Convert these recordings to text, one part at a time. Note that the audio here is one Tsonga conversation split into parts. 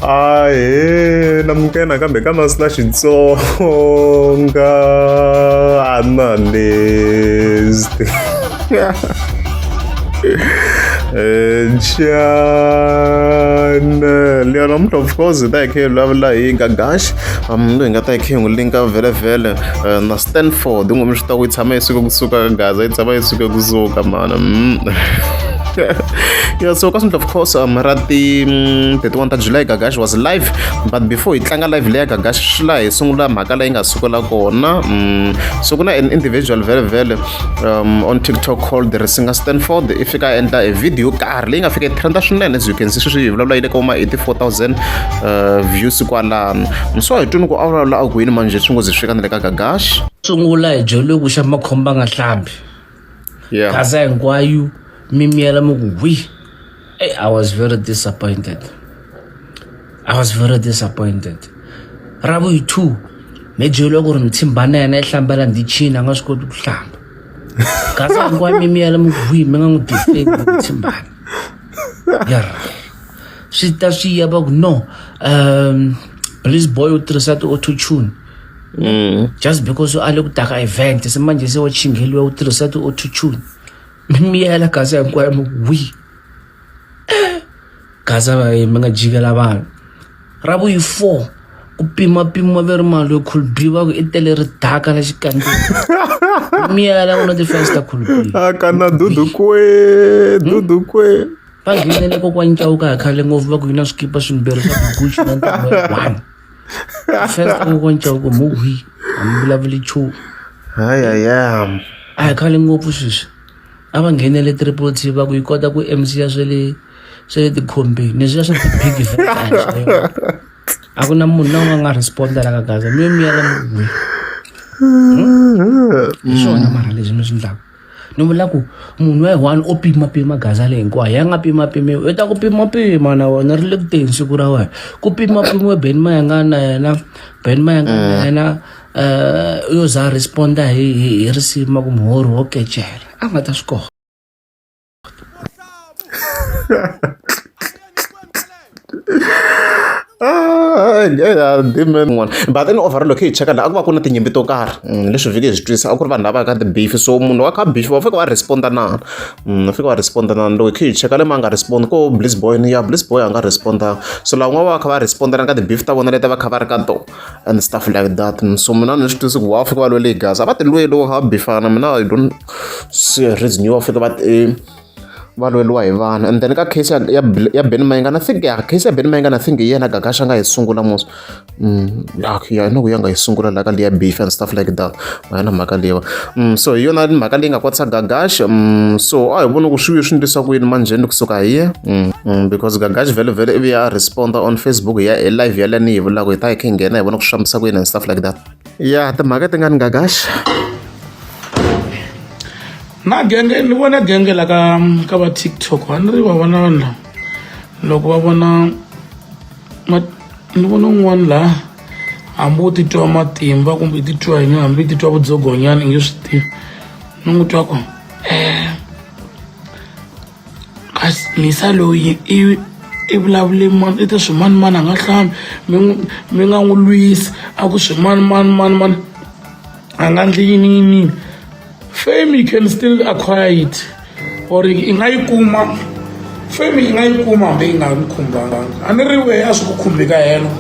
ae namuke nakambe ka masina xitsonga analyst Jan Leon Omntu of course ta hi khe hi vulavula hi Gagash um loyi nga ta hi khe hi n'wi linka vhele vhele eh, na Stanford ngomixi ta ku yi tshama yi suka kusuka ka Gaza yi tshama yi suka kusuka mhana mm. yeah, so ka of course um, ra ti mm, 31 ta july gagash was live but before hi tlanga live leya gagash swi laha hi sungula mhaka leyi nga sukela kona um, so ku na an individual vele vele um, on tiktok called the risinger stanford i fika endla a video karhi leyi nga fika trenda swinene as you can see sweswi hi vulavula yi le ka uma 84000 uh, views kwalano so hi twini ku a vulavula a ku yini manje swi ngo ze swi fika na le ka gagash sungula hi joliwe ku xa makhomba nga hlambi yeah. kasi hinkwayo mi miyela mi ku hwi hey, i was very disappointed i was very disappointed ravuyi two mi byeliwa ku ri mithimba na yena yi hlambela ndzi chini a nga swi koti ku hlamba kasi hinkwayo mi miyela mi ku hwi mi nga n'wi disturb mithimbana yer swi ta swi ya va ku no um please boy u tirhisa ti-auto tune mm. just because u ale ku taka event se manje se wa chingheliwa u tirhisa ti-autotune mi miyela gaza hinkwayo mi wi gaza vaye mi nga jikela vanhu ra vuyi four ku pimapimiwa ve ri mali yo khulbi va ku i tele ri daka la xikandzeni miyela ku na ti-fans ta khulbi a kana dudukwe dudukwe va nghenele kokwanyi cawuka hi khale ngopfu va ku yi na swikipa swimbirhi swa ku guxi na ntamu one first u vonca ku mu hwi a mi vulavuli nchumu hayaya a hi khale ngopfu sweswi a va nghenele triple t va ku yi kota ku mc ya swe le swe le tikhombeni leswiya swa ti-big a ku na munhu na un'we nga respondela ka gaza mi yo miyela mi hwi hmm? hi swona mara leswi mi swi ndlaka ni vula ku munhu wa one o pimapima gaza leyi hinkwayo ya nga pimapimiwi u ta ku pimapima na wena ri le ku teni siku ra wena ku pimapimiwe ben mayanga na yena ben mayanga na mm. yena um yo za responda hi hi hi risima ku muhori wo kecela a nga ta swi kona Ah, yeah, demon n'wana but then overall loko hi cheka la a ku va ku na tinyimpi to karhi mm, leswi vhiki hi swi twisa a ku ri vanhu lava ka tibeef so munhu wa ka beef va fika va responda nana mm, va fika va responda nana loko hi cheka le ma nga respond ko bliss boy ni ya bliss boy a nga respondanga so lavan'wana va va kha va respondana ka tibeef ta vona leti va kha va ri ka tona and stuff like that so mina ni swi tivisi ku va fika va lwele gaza a va ti lweli wo habi fana mina i don't see a reason yo va fika va ti va lweliwa hi vanhu and then ka case ya ya ya Ben Mayinga na think ya case ya Ben Mayinga na think hi yena Gagasha nga yi sungula mos mm ya ya no ku ya nga yi sungula la ka liya beef and stuff like that a hi na mhaka leyiwa um so hi yona mhaka leyi nga kwatisa gagash um so a hi voni ku swi vuye swi ndlisa ku yini manjheni kusuka hi ye mm, mm, because gagash vele vele ivi ya responda on facebook hi ya hi live yaleyo ni yi vulaka hi ta hi khe nghena hi vona ku swi fambisa ku yini and stuff like that ya timhaka ti nga ni gagash na genge ni vona genge la ka ka va tiktok a ni ri va vona vanhu lava loko va vona ni vona un'wana laha hambi u titwa matimba kumbe i titwa yini hambi i titwa vudzogonyana i nge swi tivi ni n'wi twa ku um misa loyi i i vulavule mani i te swimanimani a nga hlambi mi mi nga n'wi lwisi a ku swimanimani manimani a nga ndli yini yiniyini fame you can still acquire it or i nga yi kuma fame i nga yi kuma hambi yi nga mi khumbanga a ni ri wehe a swi ku khumbi ka helo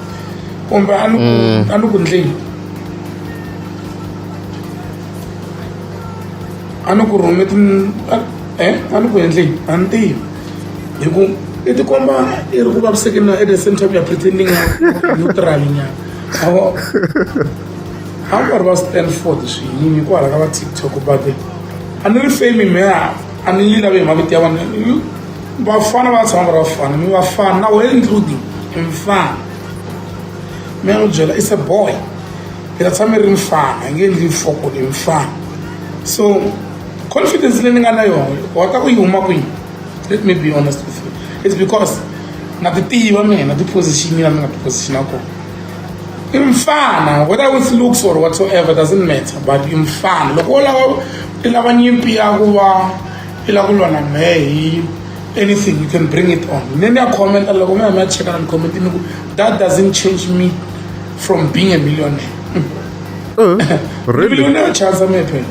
kumbe a ni mm. a ni ku ndleni a ni ku rhume ti e a ni ku endleni a ni tivi hi ku i tikomba i ri ku vavisekeni na at the same time ya pretending neutral nyana Hakwari va Stanford swiyini hikwalaho ka va TikTok but a ni ri fame meya a ni yi lavi hi mavito ya vana vafana va tshama va ri vafana mi vafana na wehe including mfana mi ya n'wi byela is a boy mi ta tshama mi ri mfana hi nge endli foko ni mfana so confidence leyi ni nga na yona wa ta ku yi huma kwini let me be honest with you it's because na ti tiva mina ti-position ya mi nga ti-position ya kona imfana whether with looks or whatsoever doesn't matter but imfana loko wo lava i lava nyimpi ya ku va i lava ku lwa na mehe hi anything you can bring it on ne ni ya commenta loko mi ya mi ya cheka na ni comment ni ku that doesn't change me from being a millionaire mm. really? millionaire chansa mi phela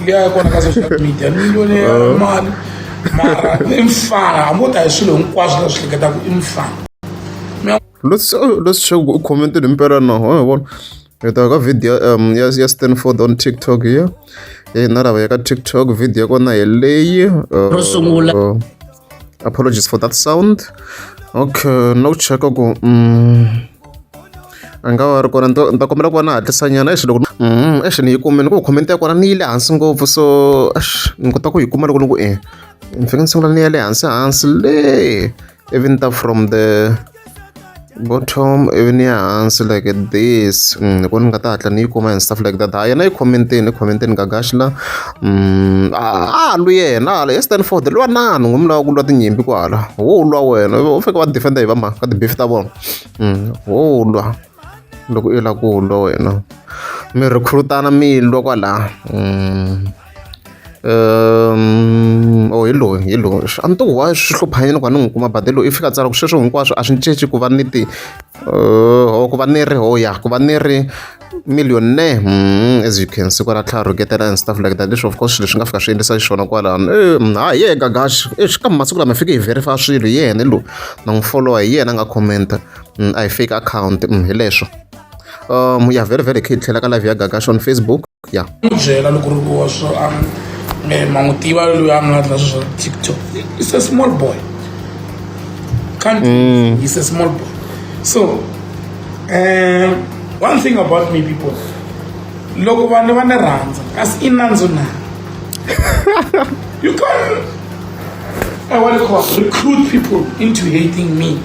liya kona ka social media millionaire uh. mali mara i mfana hambo ta hi swilo hinkwaswo leswi hleketaka i mfana Leswi leswi swa ku u comment-ile mpela na ho hi vona. Hi ta ka video um, ya, ya Stanford on TikTok ya eh, na lava ya ka TikTok video ya kona hi leyi. Uh, Ro sungula. uh, apologies for that sound. Okay, no cheka ku mm, a nga va ri kona ni ta- ni ta kombela ku va na hatlisanyana exi loko mm, exi ni yi kumile ku comment ya kona ni yi le hansi ngopfu so exi ni kota ku yi kuma loko ni ku e ni fike ni sungula ni ya le hansi hansi le even though from the bottom even ya hansi like this mm, ni ku ni nga ta hatla ni yi kuma and stuff like that ha yena yi khomenteni i khomenteni gagaxi la mm, a a lwi yena hala ya stanford lwa nani ngumi lawa ku lwa tinyimpi kwala wo lwa wena u fike va defender hi va mhaka ka tibeef ta vona mm, wo lwa loko i la ku lwa wena mi rhikhurutana mi lwa kwala Um or hi loyi hi loyi a ni to wa swi hlupha yini ku ni n'wi kuma but hi loyi i fika a tsala ku sweswo hinkwaswo a swi ni cinci ku va ni ti or ku va ni ri ho ya ku va ni ri millionaire as you can see kwala tlhela rhuketela and stuff like that leswi of course swilo swi nga fika swi endlisa xiswona kwalano ha hi yeka gash exi ka masiku lama fike hi verify swilo hi yena loyi na n'wi followa hi yena a nga commenta a hi fake akhawunti hi leswo. um ya very very kid tlhela ka live ya gagash on facebook ya n'wi byela loko ri wa swo a eh, ma n'wi tiva loyi a nga dla sweswo tiktok is a small boy can't mm. is a small boy so um one thing about me people loko vanhu va ni rhandza kasi i nandzu na you can I want to recruit people into hating me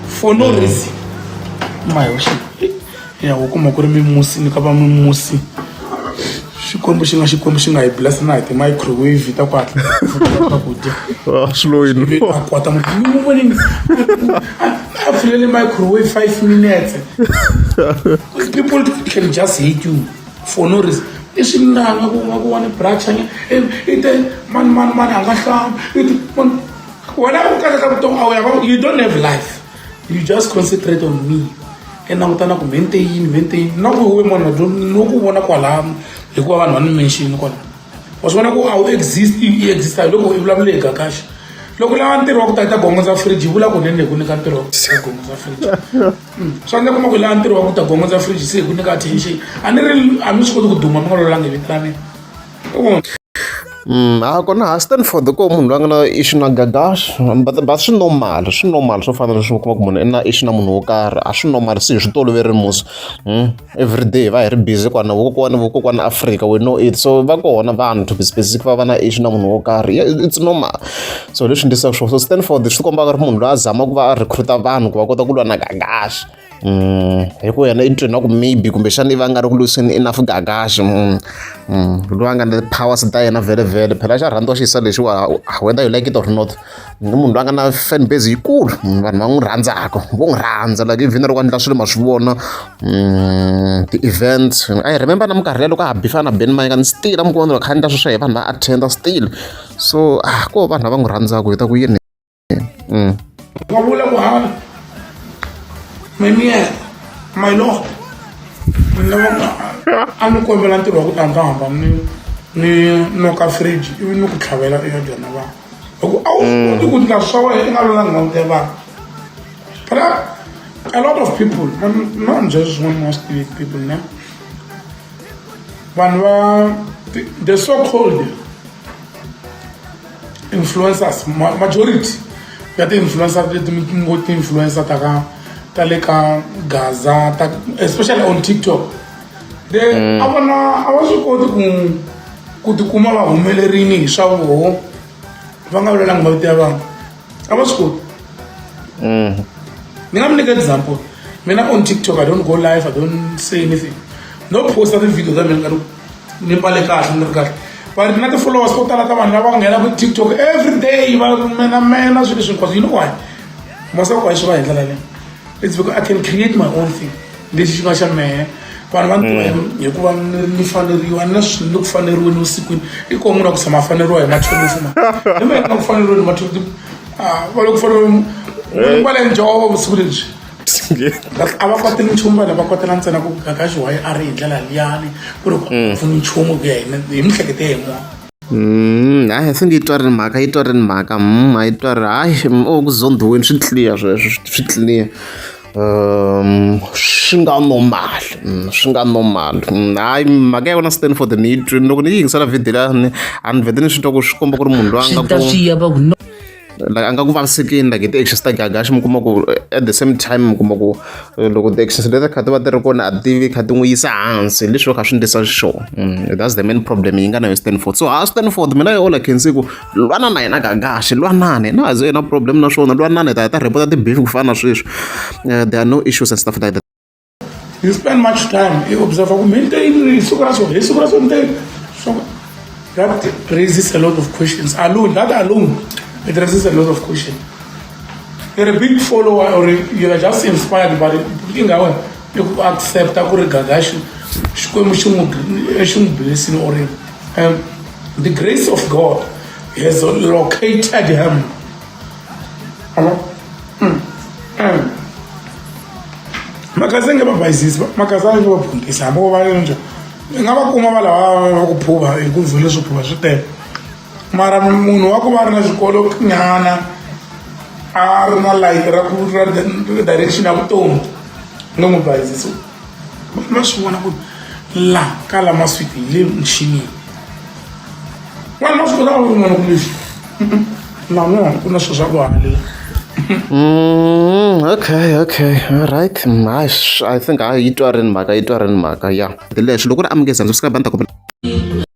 for no mm. reason mayi wa ya u kuma ku ri mimusi ni ka va mimusi xikwembu xi nga xikwembu xi nga hi bless na hi ti-microwave ta ku hatla swakudya ah, swiloyini a kwata mu vonini a pfulele microwave five minutes people can just hate you for no reason i swinanga ku nga ku wa ni brachanya i te mani mani mani a nga hlamba i te mani wena ku kahle ka vutomi a wu ya you don't have life you just concentrate on me i langutana ku mente yini mente yini na ku we munhu no ku vona kwalano hikuva vanhu va ni menxini kwalano wa swi vona ku a wu exist i exista hi loko i vulavule hi gakaxa loko lava ntirho wa ku tata gongo za fridge yi vula ku nene hi ku nyika ntirho wa ku tata gongo za fridge hmm. swa ndla kuma ku lava ntirho wa ku ta gongo za fridge se hi ku nyika attention a ni ri a mi swi koti ku duma mi nga lolanga hi vito ra mina Mm, a ku na Stanford ko munhu loyi a nga na issue na gagash but but swi normal swi normal swo fana leswi kuma ku munhu i na issue na munhu wo karhi a swi normal se hi swi toloveri musi mm, every day va hi ri busy kwana vokokwani vokokwani africa we know it so va kona vanhu to be specific va va na issue na munhu wo karhi it's normal so leswi ndisaka swona so Stanford swi kombaka ri munhu loyi a zamaka ku va a recruita vanhu ku va kota ku lwa na gagash Mm, hi ku yena i ni twini na ku maybe kumbexana i va nga ri ku lwiseni enough gagaxi mm, mm, loyi a nga na powers ta yena vhele vhele phela xa rhandziwa xiyisa lexiwa ah, whether you like it or not i munhu loyi a nga na fan base yikulu vanhu va n'wi rhandzaka vo n'wi rhandza like even loko a ndla swilo ma swi vona ti-event i remember na minkarhi leya loko a ha bifana na ben mayeka ni still a mi kuma kha ndla sweswo hi vanhu va attenda still so ah ko vanhu lava n'wi rhandzaka hi ta ku yini Mm. Kwa vula ku ha mimi my lord ni vona a ni kombela ntirho wa ku ta ndzi hamba ni ni noka fridge ivi ni ku tlhavela eka byona vanhu hi ku a wu mm. koti ku ndla swa wena i nga lona ni langute vanhu but a lot of people not just one most people ne vanhu va the so called influencers majority ya ti-influencer leti mi ngo ti-influencer ta ka ta le ka gaza ta especially on tiktok the mm. a vona a va swi koti ku ku tikuma va humelerini hi swa voho va nga vulelangi mavito ya vanhu a va swi koti mm. ni nga mi nyika example mina on tiktok i don't go live i don't say anything no posta ti-video ta mina ni mbale kahle ni ri kahle but na ti-followers to tala ta vanhu lava nghenaka tiktok every day va menamena swilo leswi hinkwaswo you know why masako a yi swi va hi ndlela leyo it's because i can create my own thing lexi xi nga xa mehe vanhu va ntiwa hikuva ni faneriwa ni na swi ni ku faneriweni vusikwini i koho munhu a ku tshama a faneriwa hi machonisi ma ni mina na ku faneriweni machonisi va le ku faneriweni mbale njhovo vusiku lebyi a va koti nchumu vanhu va kotela ntsena ku kaka xiwayi a ri hi ndlela liyani ku ri mm. pfuni nchumu ku ya hi mihlekete hi mona mm, hayi se nge yi twarini mhaka yi twarini mhaka mm, a yi twari hayi o oh, ku zondhiweni swi tliya sweswo swi tliya um swi nga normal swi nga normal hayi mhaka ya vona stanford ni yi twini loko ni yi yingisela vhidi lani a ni vhete ni swi twa ku swi komba ku ri munhu loyi a nga ku like a nga ku vavisekini like hi ti-actions ta gagax mi kuma ku at the same time mi kuma ku eh, loko ti-actions leti kha ti va ti ri kona a tivi kha ti n'wi yisa hansi leswi va kha swi ndlisa xiswona mm, that's the main problem yi nga na yo stanford so ha stanford mina yo ola khensi ku lwana na yena gagax lwanani na a ze yena problem na swona lwanani ta ta repota ti-beef ku fana na sweswi eh, there are no issues and stuff like that you spend much time i observer ku maintain ri siku ra so hi siku ra so nte so that raises a lot of questions alone that alone it raises a lot of questions you're a big follower or you're just inspired by it i nga wena i ku accepta ku ri gagaxi xikwembu xi n'wi xi n'wi blessini or um, the grace of god has located him abo mm. mm. mhaka se nge va bayisisi mhaka sa nge va phundisa hambi vo va njha ni nga va kuma va lava va ku phuva hi ku vhele swi phuva swi tele mara munhu wa ku va ri na xikolo nyana a ri na light ra ku ra direction ya vutomi no n'wi bayisisi ma swi vona ku la ka la maswiti hi le muxinini vanhu va swi kota va vona ku leswi nan'wana ku na swilo swa ku halela Mm, okay okay alright hayi mm, i think hayi yi twa ri ni mhaka yi twa ri ni mhaka ya leswi loko ri amukeza ndzi swi ka banda kumbe